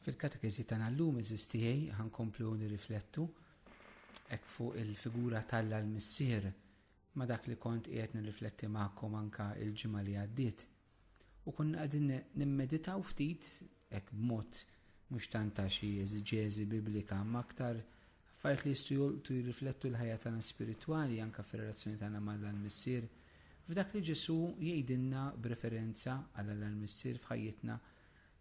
Fil-katekiżi tagħna llum iżis tiegħi ħankomplu nirriflettu hekk fuq il-figura tal l-missier ma dak li kont qiegħed nirrifletti magħkom anka il-ġimgħa li għaddiet. U konna qegħdin nimmeditaw ftit hekk b'mod mhux tant ta' xi eżiġeżi biblika ma aktar Affarijiet li jistgħu jolqtu jirriflettu l-ħajja tagħna spiritwali anke fir-relazzjoni tagħna ma' Alla l-Missier. F'dak li Ġesù jgħidilna b'referenza għal Alla l-Missier f'ħajjitna,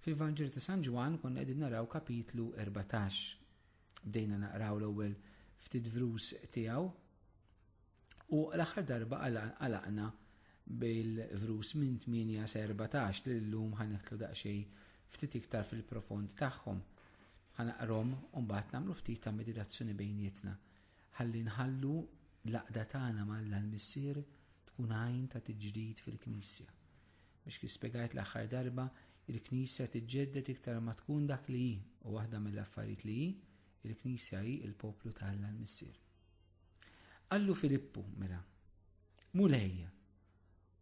fil-Vanġelu ta' San Ġwann konna qegħdin naraw kapitlu 14. Bdejna naqraw l-ewwel ftit vrus tiegħu. U l-aħħar darba għalaqna bil-vrus minn 8 sa 14 li l-lum ħanitlu daqxej ftit iktar fil-profond tagħhom. Ħanaqrom u mbagħad nagħmlu ftit ta' meditazzjoni bejnietna. Ħalli nħallu l-aqda tagħna mal-Alla l-Missier tkun għajn ta' tiġdid fil-Knisja. Biex kif spjegajt l-aħħar darba, il-Knisja tiġġedded iktar ma tkun dak li hi u waħda mill-affarijiet li hi, il-Knisja hi il-poplu ta' Alla l-Missier. Qallu Filippu, mela, Mulej,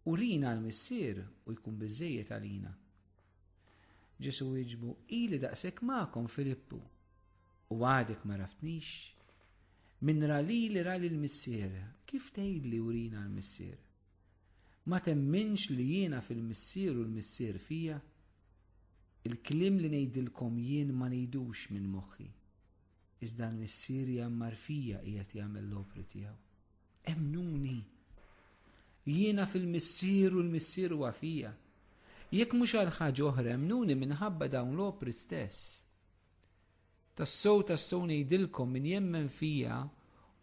urina l-Missier u jkun biżżejjed għalina. Ġesu wieġbu, ili daqshekk magħkom Filippu, u għadek ma raftnix. Min ra li li ra l-missier, kif tgħid li urina l-missier? Ma temminx li jiena fil-missier u l-missier fija? Il-klim li ngħidilkom jien ma ngħidux minn moħħi. Iżda l-missierja marfija qiegħed jagħmel l-opri tiegħu. Emnuni. Jiena fil-missier u l-missier huwa fija. Jekk mhux għal ħaġa oħra emnuni minħabba dawn l-opri stess. Tassow tassow ngħidilkom min jemmen fija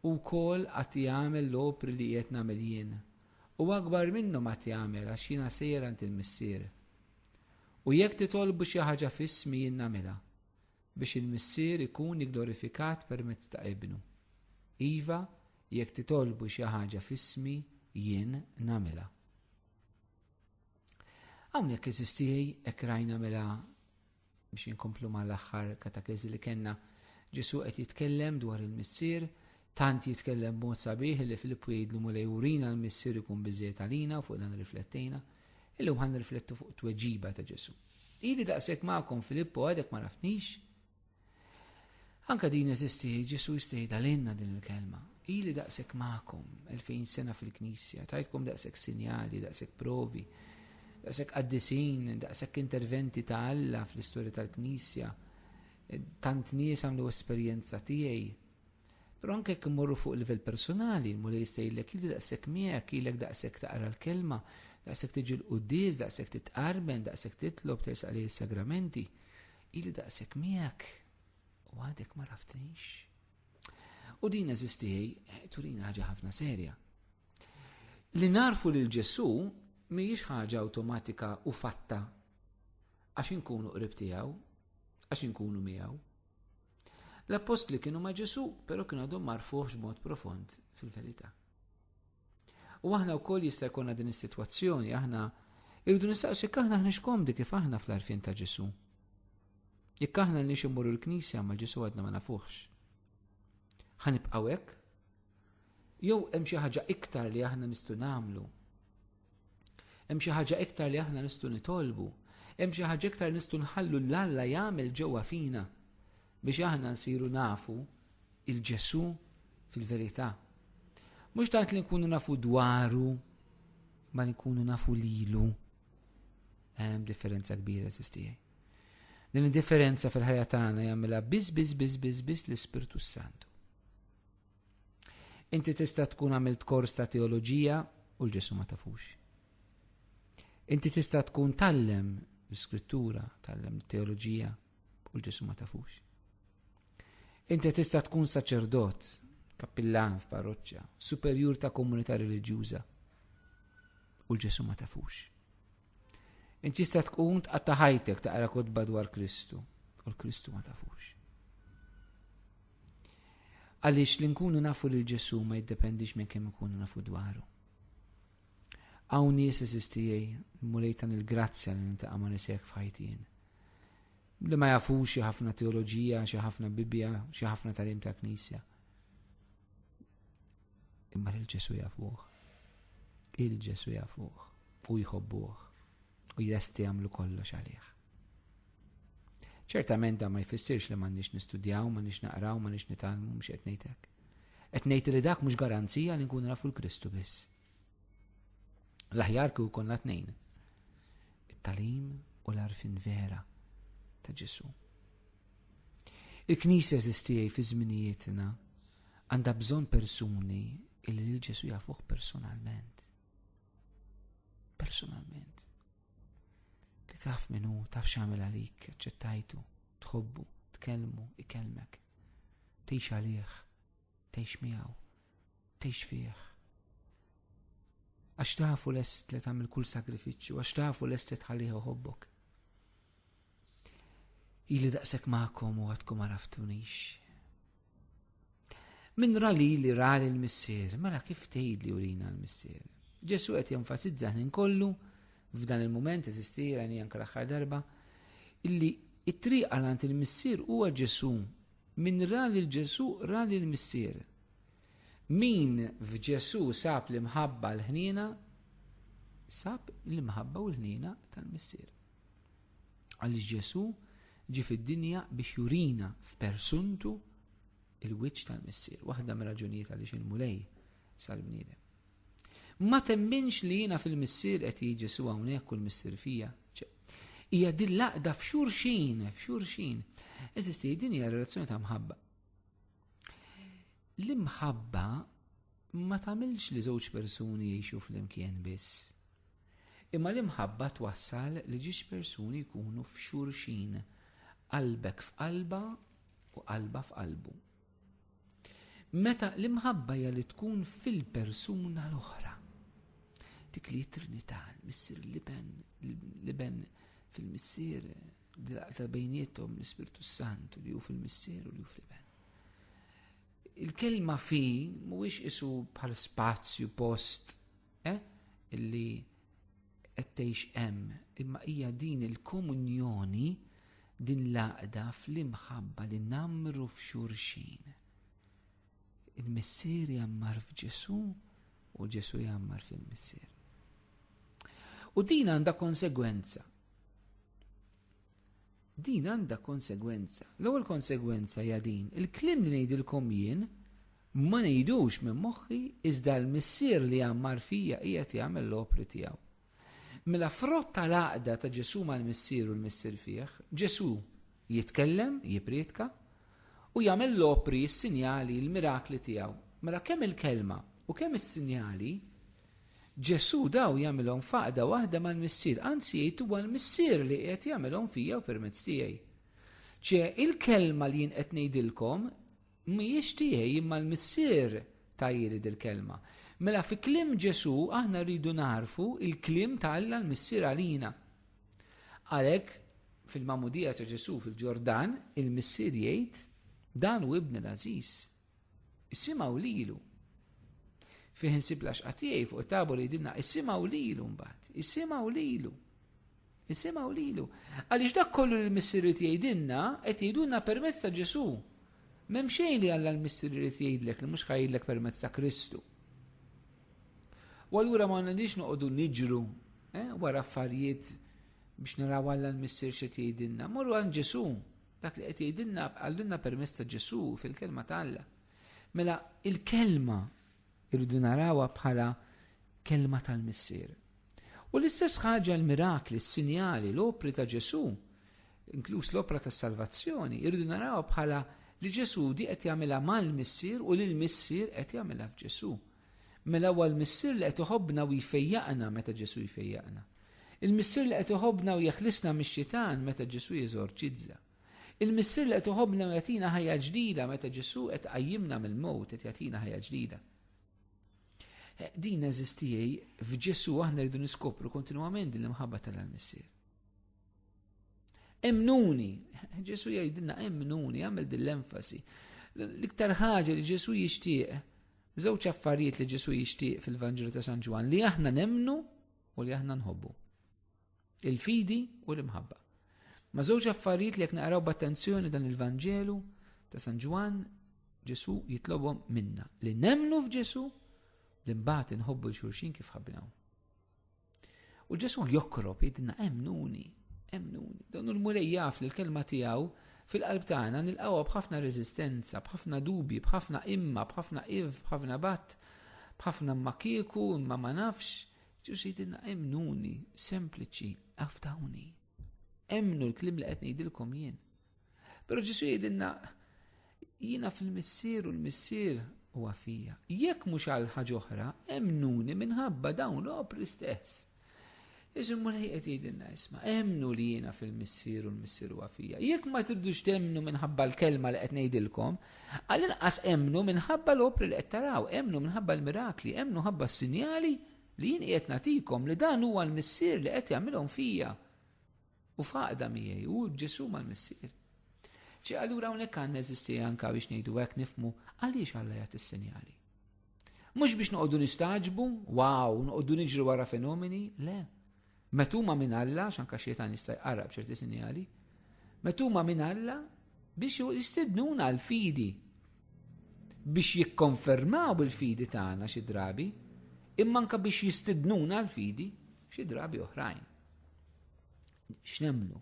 u kol għat jagħmel l-opri li qed nagħmel jien. U akbar minnhom għat jagħmel għax jiena sejjer għand il-missier. U jekk titolbu xi ħaġa f'ismi jien nagħmilha. biex il-Missier ikun igglorifikat permezz ta' Ibnu. Iva, jekk titolbu xi ħaġa f'ismi, jien nagħmilha. Hawnhekk eżistijaj hekk rajna mela biex inkomplu mal-aħħar katakezi li kellna. Ġesu qed jitkellem dwar il-Missier Tant jitkellem b'mod sabiħ li Filippu jgħidlu Mulej urina l-Missier ikun biżejjed għalina fuq dan riflettejna, illum ħan riflettu fuq tweġiba ta' Ġesu. Ili daqshekk magħkom Filippu għadek ma nafnix. Anka din eżisti Ġesu jistejda għalinna din il-kelma. Ili daqshekk magħkom 2000 sena fil-Knisja, tajtkom daqshekk sinjali, daqshekk provi, daqshekk qaddisin, daqshekk interventi ta' Alla fl-istorja tal-Knisja. Tant nies għamlu esperjenza tiegħi Però anke jekk immorru fuq livell personali, l-Mulej jista' jgħidlek ili daqshekk miegħek, ilek daqshekk taqra l-kelma, daqshekk tiġi l-quddies, daqshekk titqarben, daqshekk titlob tersaq lejn is-sagramenti. Ili daqshekk miegħek u għadek ma raftnix. U din eżisti turina ħaġa ħafna serja. Li narfu lil Ġesu mhijiex ħaġa awtomatika u fatta għax inkunu qrib tiegħu, għax inkunu miegħu. L-appostli kienu ma' Ġesu, pero kienu għadhom marfuħx mod profond fil-verità. U aħna wkoll jista' jkollna din is-sitwazzjoni, aħna irridu nistaqsu jekk aħna ħniex komdi kif aħna fl-arfin ta' Ġesu. Jekk aħna nix immorru l-Knisja ma' Ġesu għadna ma nafuħx. Ħanibqgħu hekk? Jew hemm xi ħaġa iktar li aħna nistgħu nagħmlu Hemm xi ħaġa iktar li aħna nistgħu nitolbu. Hemm xi ħaġa iktar nistgħu nħallu l Alla jagħmel ġewwa fina biex aħna nsiru nafu il-Ġesu fil-verità. Mhux tant li nkunu nafu dwaru, ma li nkunu nafu lilu. Hemm differenza kbira sistijaj. Din id-differenza fil-ħajja tagħna jagħmilha biss biss biss biss biss l-Ispirtu Santu. Inti tista' tkun għamilt kors ta' teoloġija u l-ġesu ma tafux. Inti tista' tkun tallem l-iskrittura, tallem teoloġija u l-ġesu ma tafux. Inti tista' tkun saċerdot, kappillan f'parroċċa, superjur ta' komunità reliġjuża u l-ġesu ma tafux. Inti tista' tkun tqatta' ħajtek taqra kotba dwar Kristu u l-Kristu ma tafux. Għaliex li nkunu nafu lil Ġesu ma jiddependix minn kemm ikunu nafu dwaru. Hawn nies eżistijej mulejtan il-grazzja li nintaqa' ma nisek f'ħajtien. Li ma jafux xi ħafna teoloġija, xi ħafna Bibbja, xi ħafna talim ta' Knisja Imma lil Ġesu jafuh. Il Ġesu jafuh u jħobbuh u jresti jagħmlu kollox għalih. Ċertament da ma jfissirx li m'għandniex nistudjaw, m'għandniex naqraw, m'għandniex nitalmu, mhux qed ngħidlek. Qed ngħid li dak mhux garanzija li nkunu nafu l-Kristu biss. L-aħjar kieku konna tnejn. It-talim u l-arfin vera ta' Ġesu. Il-Knisja eżistijaj fi żminijietna Għandha bżonn persuni illi lil Ġesu jafuh personalment. Personalment. Li taf minnu, taf xamil għalik, ċettajtu, tħobbu, tkellmu, ikellmek. Tejx għalih, tejx miegħu, tejx fih. Għax tafu lest li tagħmel kull sagrifiċċju, għax tafu lest li tħalliħu ħobbok. Ili daqshekk magħkom u għadkom għaraftunix. Min ra li li ra l-missier, mela kif tgħid li urina l-missier? Ġesu qed jenfasizza ħnin kollu f'dan il-moment eżisti għani anke l-aħħar darba illi it-triq għalant il-missier huwa Ġesu. Min ra li l-Ġesu ra li l-missier. Min f'Ġesu sab l-imħabba l-ħnina, sab l-imħabba u l-ħnina tal-missier. Għaliex Ġesù ġie fid-dinja biex jurina f'persuntu il-wiċċ tal-Missier, waħda mir-raġunijiet għaliex il-Mulej sal-bniedem. Ma temminx li jiena fil-Missier qed jiġi Ġesù hawnhekk u l-Missier fija. Hija din laqda f'xurxin, f'xurxin. Eżisti, din hija relazzjoni ta' mħabba. L-imħabba ma tagħmilx li żewġ persuni jgħixu flimkien biss. Imma l-imħabba twassal li ġiex persuni jkunu f'xulxin, qalbek f'qalbha u qalbha f'qalbu. Meta l-imħabba hija li tkun fil-persuna l-oħra. Dik li trinità, l-missier l-iben, l-iben fil-missier, dilaqta bejnietom l-Ispirtu Santu li hu fil-missier u li hu fil-iben. Il-kelma fi mhuwiex isu bħal spazju post Eh, illi qed tgħix hemm, imma hija din il-komunjoni din l-għaqda fl-imħabba li namru f'xurxin. Il-missier jammar f'Ġesu u Ġesu jammar fil-missier. U din għandha konsegwenza. Din għandha konsegwenza. L-ewwel konsegwenza hija din, il-kliem li ngħidilkom jien ma ngħidux minn moħħi iżda l-Missier li għammar fija qiegħed jagħmel l-opri tiegħu. Mela frott tal-għaqda ta' Ġesù mal-Missier u l-Missier fih, Ġesù jitkellem, jiprietka, u jagħmel l-opri, s-sinjali, l-mirakli tiegħu. Mela kemm il-kelma u kemm is-sinjali Ġesù dawn jagħmilhom f'għaqda waħda mal-Missier, anzi jgħid huwa l-Missier li qiegħed jagħmilhom fija u permezz tiegħi. Ċe, il-kelma li jien qed ngħidilkom mhijiex tiegħi imma l-Missier tajjeli dil-kelma. Mela fi kliem Ġesù aħna rridu naħarfu il-kliem ta' Alla l-Missier għalina. Għalhekk fil-mamudija ta' Ġesù fil-Ġordan, il-Missier jgħid dan u ibn l-Aziz, Issimgħu lilu. Fih insib laxqa tiegħi fuq it-tabor jidilna issimgħu lilu mbagħad, issimgħu lilu. Issimgħu lilu. Għaliex dak kollu li l-Missieri jgħidilna qed jgħidulna permezz ta' Ġesu. M'hemm xejn li Alla l-Missieri jrid jgħidlek li mhux ħajjidlek permezz ta' Kristu. U allura ma għandix noqogħdu niġru eh, wara affarijiet biex naraw Alla l-Missier xi tgħidilna. Morru għand Ġesu, Dak li qed jgħidilna għallunna permess ta' Ġesu fil-kelma ta' Alla. Mela il-kelma irridu narawha bħala kelma tal-missier. U l-istess ħaġa l-mirakli, s-sinjali, l-opri ta' Ġesu, inkluż l-opra tas salvazzjoni, irridu narawha bħala li Ġesu di qed jagħmilha mal-missier u l missier qed jagħmilha f'Ġesu. Mela huwa l-Missier li qed iħobbna u jfejjaqna meta Ġesù jfejjaqna. Il-Missier li qed iħobbna u jeħlisna mix-xitan meta Ġesù jeżorċizza. Il-Missier li qed iħobbna u jagħtina ħajja ġdida meta Ġesù qed iqajjimna mill-mewt qed jagħtina ħajja ġdida. Eh, din eżistijej f'Ġesù aħna rridu niskopru kontinwament din l-imħabba tal-Missier. Emnuni, Ġesù jgħidilna emnuni, għamil din l-enfasi. L-iktar ħaġa li Ġesù jixtieq Żewġ affarijiet li Ġesu jixtieq fil-Vanġelu ta' San Ġwan li aħna nemnu u li aħna nħobbu. Il-fidi u l-imħabba. Ma żewġ affarijiet li jekk naqraw b'attenzjoni dan il-Vanġelu ta' San Ġwan Ġesu jitlobhom minna li nemnu f'Ġesu li mbagħad inħobbu l-xulxin kif ħabbinaw. U Ġesu jokrob jidna emnuni, emnuni. Dawn il-mulej jaf li l-kelma tiegħu fil-qalb tagħna nilqgħuha b'ħafna reżistenza, b'ħafna dubi, b'ħafna imma, b'ħafna iv, b'ħafna bat, b'ħafna ma kieku, imma ma nafx. Ġesu jidna emnuni, sempliċi, aftawni. Emnu l-klim li qed ngħidilkom jien. Pero Ġesu jidinna, jina fil-missier u l-missier u għafija. Jekk mux għal ħagħuħra, emnuni minħabba dawn l-opri stess. Iżum mur ħiqet jidinna isma, emnu li jina fil-missier u l-missier u għafija. Jekk ma tibdux temnu minħabba l-kelma li qed ngħidilkom, għal inqas emnu minħabba l-opri li qed taraw, emnu minħabba l-mirakli, emnu ħabba s-sinjali li jien qiegħed natikom li dan huwa l-missier li qed jagħmilhom fija. U faqda miegħi u b'Ġesù mal-Missier. Ċi allura hawnhekk għandna eżisti anka biex ngħidu hekk nifmu għaliex Alla jagħti s-sinjali. Mhux biex noqogħdu nistaġbu, wow, noqogħdu niġru wara fenomeni, le. Metuma minn Alla, xanka xietan jista' jqarrab ċerti sinjali, metuma minn Alla biex jistednuna l-fidi biex jikkonfermaw il-fidi tagħna xi drabi, imma anka biex jistidnuna l-fidi xi drabi oħrajn. X'nemnu?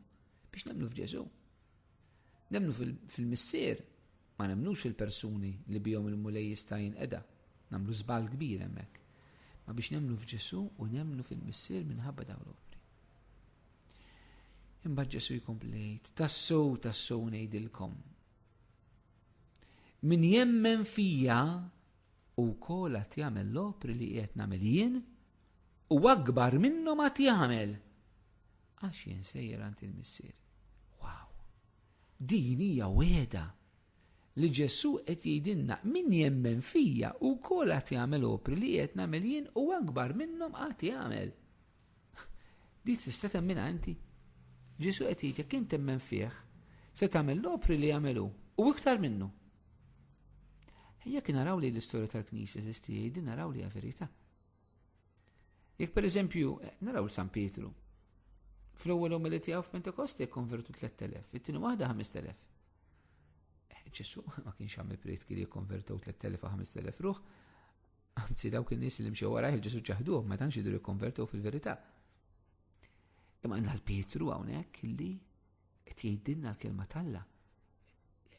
Biex nemnu f'Ġesu. Nemnu fil-missier, ma nemnux fil-persuni li bihom il-mulej jista' jinqeda. Namlu żball kbir hemmhekk. Ma biex nemnu f'Ġesu u nemnu fil-missier minħabba dawn l-opri. Imma Ġesu jkomplejt, tassow tassow ngħidilkom. Min jemmen fija u kolat jagħmel l-opri li qiegħed nagħmel jien, u akbar minnhom għad jagħmel. Għax jien sejjer għand il-Missier. Wow! Din hija weda li Ġesù qed jgħidilna min jemmen fija u kol għat jagħmel opri li qed nagħmel jien u akbar minnhom għat jagħmel. Di tista' temmin għanti. Ġesù qed jgħid jekk int temmen fih, se tagħmel l-opri li jagħmelu u iktar minnu. Jekk naraw li l-istorja tal-Knisja żisti jgħidin naraw li verità. Jekk per eżempju, naraw l-San Pietru, fl-ewwel omeli tiegħu f'Pentekosti konvertu 3000, it-tieni waħda 5000. Eh, Ġesu ma kienx għamil prietki li konvertu 3000 u 5000 ruħ, anzi dawk in-nies li mxew warajh Ġesu ġaħduh ma tantx jidru konvertu fil-verità. Imma għandna l-Pietru hawnhekk li Qed jgħidilna l-kelma t'Alla.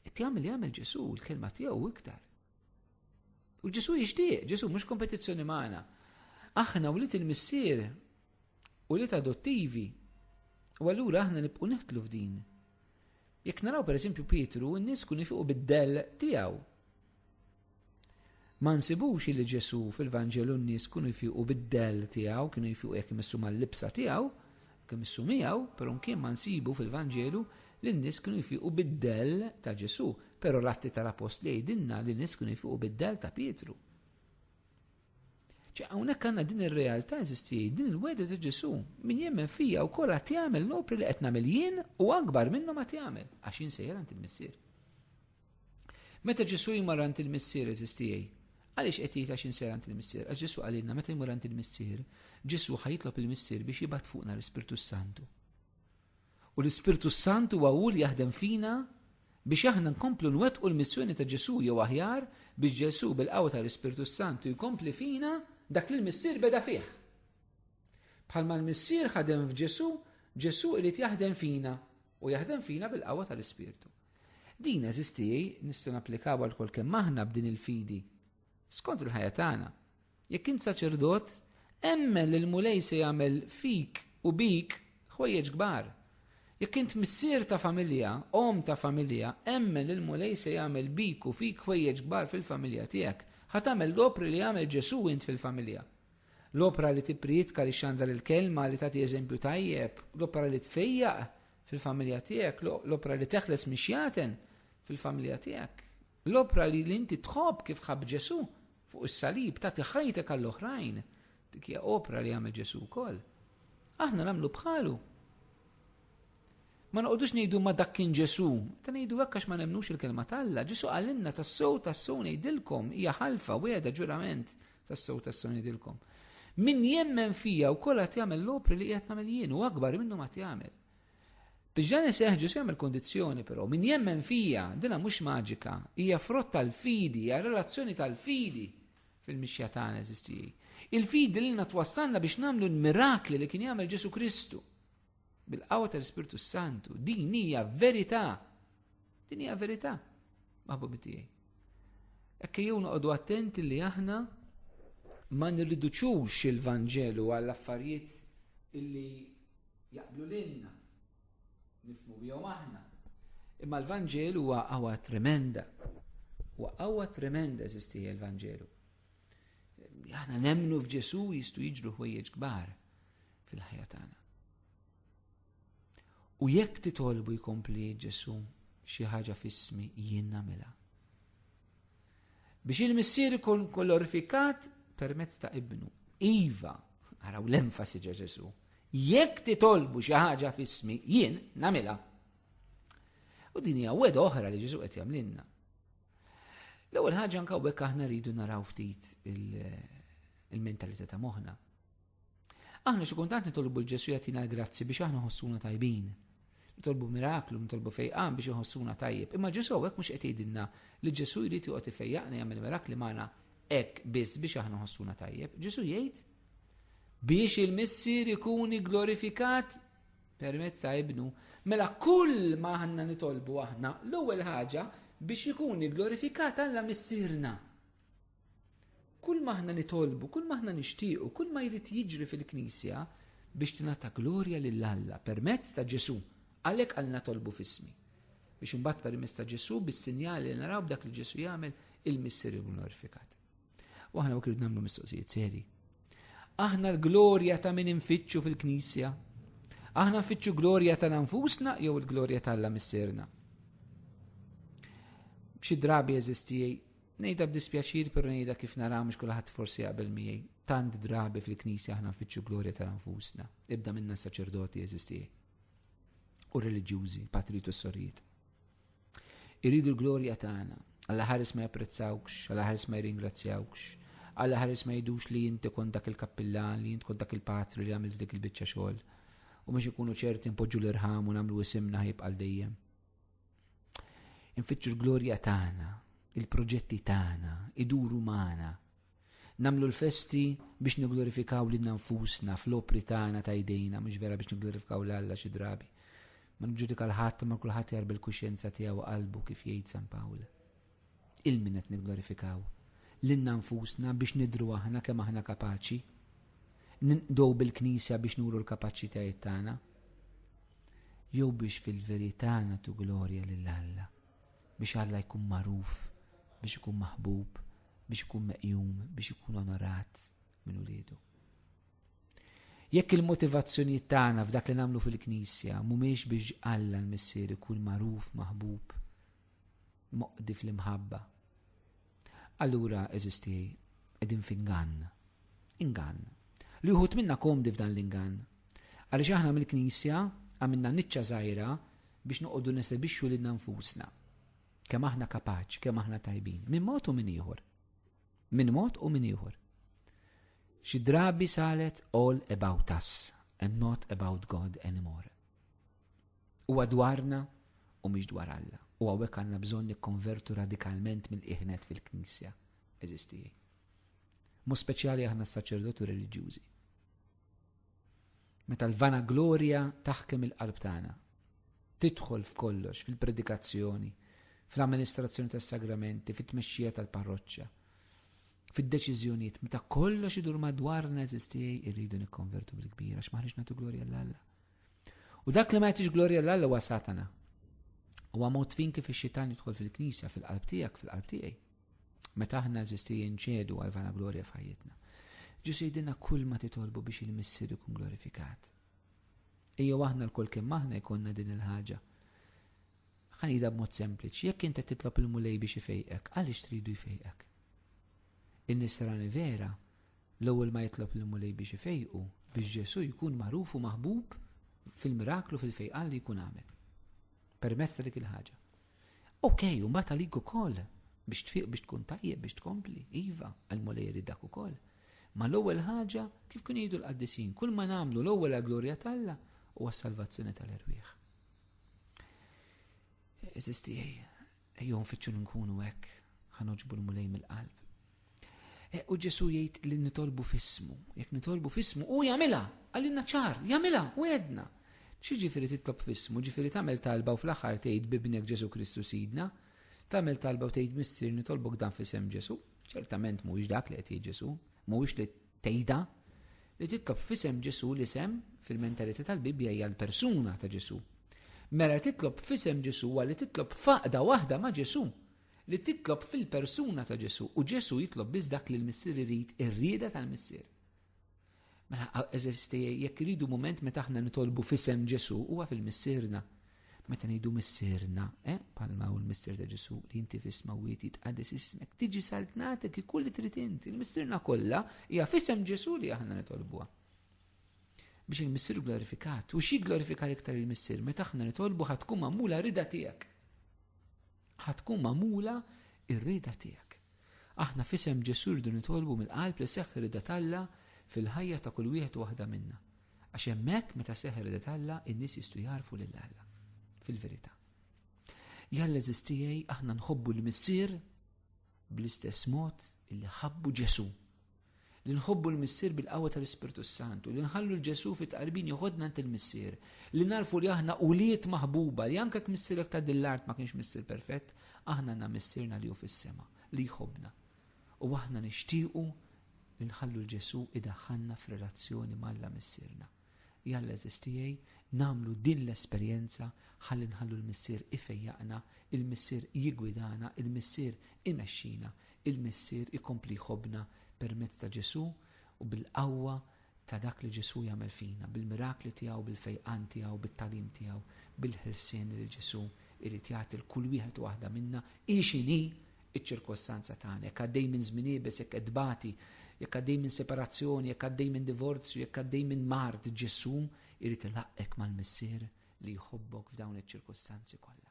Qed jagħmel li jagħmel Ġesu, l-kelma tiegħu iktar. U Ġesu jixtieq, Ġesu mhux kompetizzjoni magħna. Aħna wlied il-missier u li adottivi. U allura aħna nibqu neħtlu f'din. Jekk naraw pereżempju Pietru, n-nies kun ifiqu bid-del tiegħu. Ma nsibux li Ġesu fil-Vanġelu n-nies kunu jfiqu bid-del tiegħu, kienu jfiqu jekk imissu mal-libsa tiegħu, jekk imissu miegħu, però kien ma nsibu fil-Vanġelu li n-nies kienu jfiqu bid-del ta' Ġesu, però l-atti tal-apost li jgħidilna li n-nies kienu jfiqu bid-del ta' Pietru. Ċe hawnhekk għandna din ir-realtà eżisti, din il-weda ta' Ġesu, min jemmen fija u kollha jagħmel l-opri li qed nagħmel jien u akbar minnhom ma jagħmel, għax jien sejjer għand il-Missier. Meta Ġesu jmur għand il-Missier eżis tiegħi, għaliex qed jgħid għax insir għand il-Missier? Għax Ġesu qalilna meta jmur għand il-Missier, Ġesu ħajtlob il-Missier biex jibgħat fuqna l-Ispirtu Santu. U l-Ispirtu Santu huwa hu li jaħdem fina biex aħna nkomplu nwettqu l-missjoni ta' Ġesu jew aħjar biex Ġesu bil-qawwa tal-Ispirtu Santu jkompli fina dak li l-Missier beda fih. Bħalma l-Missier ħadem f'Ġesu, Ġesu irid jaħdem fina u jaħdem fina bil-qawwa tal-Ispirtu. Din eżisti nistgħu napplikaw għal kol kemm aħna b'din il-fidi. Skont il-ħajja tagħna, jekk int saċerdot, emmen li l-Mulej se jagħmel fik u bik ħwejjeġ kbar. Jekk int missier ta' familja, om ta' familja, emmen li l-Mulej se jagħmel bik u fik ħwejjeġ kbar fil-familja tiegħek. Ħa tagħmel l-opri li jagħmel Ġesu int fil-familja. L-opra li tipprietka li xandar il-kelma li tagħti eżempju tajjeb, l-opra li tfejjaq fil-familja tiegħek, l-opra li teħles mhix jaten fil-familja tiegħek, l-opra li inti tħobb kif ħab Ġesu fuq is-salib ta' tiħajtek għall-oħrajn, dik hija opra li għamel Ġesu wkoll. Aħna nagħmlu bħalu. Ma noqogħdux ngħidu ma dak kien Ġesu, ta' ngħidu hekk għax ma nemnux il-kelma t'Alla. Ġesu għalinna tas-sow tas-sow ngħidilkom hija ħalfa weda ġurament Tassew tassew nidilkom. Min jemmen fija u kolla tjamel l-opri li jgħat namel jien u akbar minnu ma tjamel. Biex dan iseħ ġus jagħmel kondizzjoni però min jemmen fija dina mhux maġika, hija frott tal-fidi, hija relazzjoni tal-fidi fil-mixja tagħna eżistiji. Il-fidi li natwassalna biex nagħmlu l-mirakli li kien jagħmel Ġesu Kristu. Bil-qawwa tal-Ispirtu s-Santu, din hija verità. Din hija verità, maħbubi tiegħi. Ekk jew noqogħdu attenti li aħna ma nirriduċux il-Vanġelu għall affarijiet illi jaqblu lilna nifmu bihom aħna. Imma l-Vanġelu huwa qawwa tremenda. Huwa qawwa tremenda eżisti l-Vanġelu. Aħna nemmnu f'Ġesu jistu jiġru ħwejjeġ kbar fil-ħajja tagħna. U jekk titolbu jkompli Ġesu xi ħaġa f'ismi jien nagħmilha. Biex il-missier ikun kolorifikat permezz ta' ibnu. Iva, araw l-enfasi ġa Ġesu. Jekk titolbu xi ħaġa f'ismi jien nagħmilha. U din hija weda oħra li Ġesu qed jagħmlilna. L-ewwel ħaġa anke bekk aħna rridu naraw ftit il-mentalità ta' moħħna. Aħna xi kuntant nitolbu l-Ġesu jagħtina l-grazzi biex aħna ħossuna tajbin. Nitolbu miraklu, nitolbu fejqan biex iħossuna tajjeb. Imma Ġesu hekk mhux qed jgħidilna li Ġesu jrid joqgħod ifejjaqna jagħmel mirakli magħna hekk biss biex aħna ħossuna tajjeb. Ġesu jgħid biex il-missier ikun glorifikat Permezz ta' ibnu, mela kull ma aħna nitolbu aħna, l-ewwel ħaġa biex ikun glorifikat Alla missirna. Kull ma aħna nitolbu, kull ma aħna nixtiequ, kull ma jrid jiġri fil-Knisja biex tingħata glorja lil Alla permezz ta' Ġesu. Għalhekk għal natolbu fismi. Biex imbagħad permezz ta' Ġesu bis-sinjali li naraw b'dak li Ġesu jagħmel il-Missier glorifikat. U aħna u krid nagħmlu mistoqsijiet seri. Aħna l-glorja ta' min infittxu fil-Knisja. Aħna nfittxu glorja ta' nfusna jew il-glorja ta' Alla Missierna. B'xi drabi eżistijej, nejda b'dispjaċir per nejda kif nara mhux kulħadd forsi qabel miegħi. Tant drabi fil-Knisja aħna nfittxu glorja ta' nfusna. Ibda minna saċerdoti eżistijej. U reliġjużi, patritu s-sorijiet. Iridu l-glorja tagħna. Alla ħares ma japprezzawkx, alla ħares ma jirringrazzjawkx, alla ħares ma jidux li jinti kont dak il-kappillan, li jint kont dak il-patri li għamilt dik il-bicċa xogħol. U biex ikunu ċerti npoġġu l-irħam u nagħmlu isimna ħajbqal dejjem. Infittxu l-glorja tagħna, il-proġetti tagħna, iduru magħna, Namlu l-festi biex niglorifikaw li nfusna fl-opri tagħna ta' jdejna, mhux vera biex niglorifikaw l-Alla xi drabi. Ma nġudika l-ħadd ma kulħadd jarbi l-kuxjenza tiegħu qalbu kif jgħid San Pawl. Il-min qed niglorifikaw lilna nfusna biex nidru aħna kemm aħna kapaċi. Ninqdow bil-Knisja biex nuru l-kapaċitajiet tagħna. Jew biex fil-verità nagħtu glorja lil Alla biex Alla jkun magħruf, biex ikun maħbub, biex ikun meqjum, biex ikun onorat minn uliedu. Jekk il-motivazzjonijiet tagħna f'dak li nagħmlu fil-Knisja mhumiex biex Alla l-Missier ikun magħruf maħbub moqdi fl-imħabba. Allura eżisti qegħdin f'ingann. Ingann. Li wħud minna komdi f'dan l-ingann. Għaliex aħna mill-Knisja għamilna niċċa żgħira biex noqogħdu nesebixxu lilna nfusna. Kemm aħna kapaċi, kemm aħna tajbin. Min mod u min ieħor. Min mod u min ieħor. Xi drabi saret all about us and not about God anymore. U dwarna u mhix dwar Alla. U għawek għanna bżon nikkonvertu radikalment mill-iħnet fil-Knisja. Eżisti. Mu speċjali aħna saċerdotu reliġjużi. Meta l-vanaglorja taħkem il-qalb tagħna, tidħol f'kollox, fil-predikazzjoni, fl-amministrazzjoni tas-sagramenti, fit-tmexxija tal-parroċċa, fid-deċiżjonijiet, meta kollox idur madwar neżisti irridu nikkonvertu bil-kbir għax maħniex nagħtu glorja l-Alla. U dak li ma jagħtix glorja l-Alla huwa Satana. Huwa mod fin kif ix-xitan jidħol fil-knisja, fil-qalb tiegħek, fil-qalb tiegħi. Meta aħna eżisti jinċedu għal vana glorja f'ħajjitna. Ġu sejdina kull ma titolbu biex il-missir ikun glorifikat. Ejjew aħna l-kol kemm aħna jkollna din il-ħaġa. Ħanida b'mod sempliċi, jekk inti titlob il-mulej biex ifejqek, għaliex tridu jfejqek? In-nisrani vera, l-ewwel ma jitlob il-mulej biex ifejqu, biex Ġesu jkun magħruf u maħbub fil-miraklu fil-fejqan li jkun għamel. Permezz ta' dik il-ħaġa. Ok, u mbagħad għalik ukoll biex tfiq biex tkun tajjeb biex tkompli, iva, għal mulej jrid dak ukoll. Ma l-ewwel ħaġa kif kien jgħidu l-qaddisin, kull ma nagħmlu l-ewwel għal glorja t'Alla u għas-salvazzjoni tal-erwieħ. Eżisti ejju nfittxu nkunu hekk ħanoġbu l-mulej mill-qalb. Eh, u Ġesu jgħid li nitolbu fismu, jekk nitolbu fismu, u jagħmilha, għalina ċar, jagħmilha, u għedna. Xi ġifieri titlob fismu, ġifieri tagħmel talba u fl-aħħar tgħid bibnek Ġesu Kristu Sidna, tagħmel talba u tgħid missier nitolbok dan fisem Ġesu, ċertament mhuwiex dak li qed Ġesu, mhuwiex li tgħidha, li titlob fisem Ġesu li sem fil-mentalità tal-Bibbja hija l-persuna ta' Ġesu. Mela titlob fisem Ġesu għalli titlob faqda waħda ma' Ġesu. li titlob fil-persuna ta' Ġesù u Ġesù jitlob biss dak li l-Missier irid ir-rieda tal-Missier. Mela eżisti jekk iridu mument meta aħna nitolbu fisem Ġesù huwa fil-missierna. Meta ngħidu missierna, eh, palma u l-missier ta' Ġesù li inti fisma u jiet jitqaddes ismek, tiġi saltnatek ikun li trid int. Il-missierna kollha hija fisem Ġesù li aħna nitolbuha. Biex il-missier glorifikat u xi glorifikar iktar il-missier meta aħna nitolbu ħatkun magħmula rida tiegħek. Ħa tkun magħmula r-rieda tiegħek. Aħna f'isem Ġesù rridu nitolbu mill-qalb li seħħ ir-rieda t'Alla fil-ħajja ta' kull wieħed u waħda minna. Għax hemmhekk meta seħħ ir-rieda t'Alla in-nies jistgħu jarfu lil Alla fil-verità. Jalla eżistijaj aħna nħobbu l-missier bl-istess mod illi ħabbu Ġesu. li nħobbu l-Missier bil-qawwa tal-Ispirtu s-Santu, li nħallu l-Ġesu fit-tqarbin joħodna għand il-Missier, li narfu li aħna ulied maħbuba, li anke missierek ta' din l-art ma kienx Missier perfett, aħna għandna Missierna li hu fis-sema, li jħobbna. U aħna nixtiequ li nħallu l-Ġesu idaħħalna f'relazzjoni m'Alla Missierna. Jalla eżiż tiegħi, nagħmlu din l-esperjenza ħalli nħallu l-Missier ifejjaqna, il-Missier jiggwidana, il-Missier imexxina, il-Missier ikompli jħobbna permezz ta' Ġesù u bil-qawwa ta' dak li Ġesù jagħmel fina, bil-mirakli tiegħu, bil-fejqan tiegħu, bit-tagħlim tiegħu, bil-ħelsien li Ġesù irid jagħti l-kull wieħed waħda minna, hi x'inhi iċ-ċirkostanza tagħna, jekk għaddej minn żmien iebes, jekk qed tbati, jekk għaddej minn separazzjoni, jekk għaddej minn divorzju, jekk għaddej minn mard, Ġesù irid ilaqqek mal-Missier li jħobbok f'dawn iċ-ċirkostanzi kollha.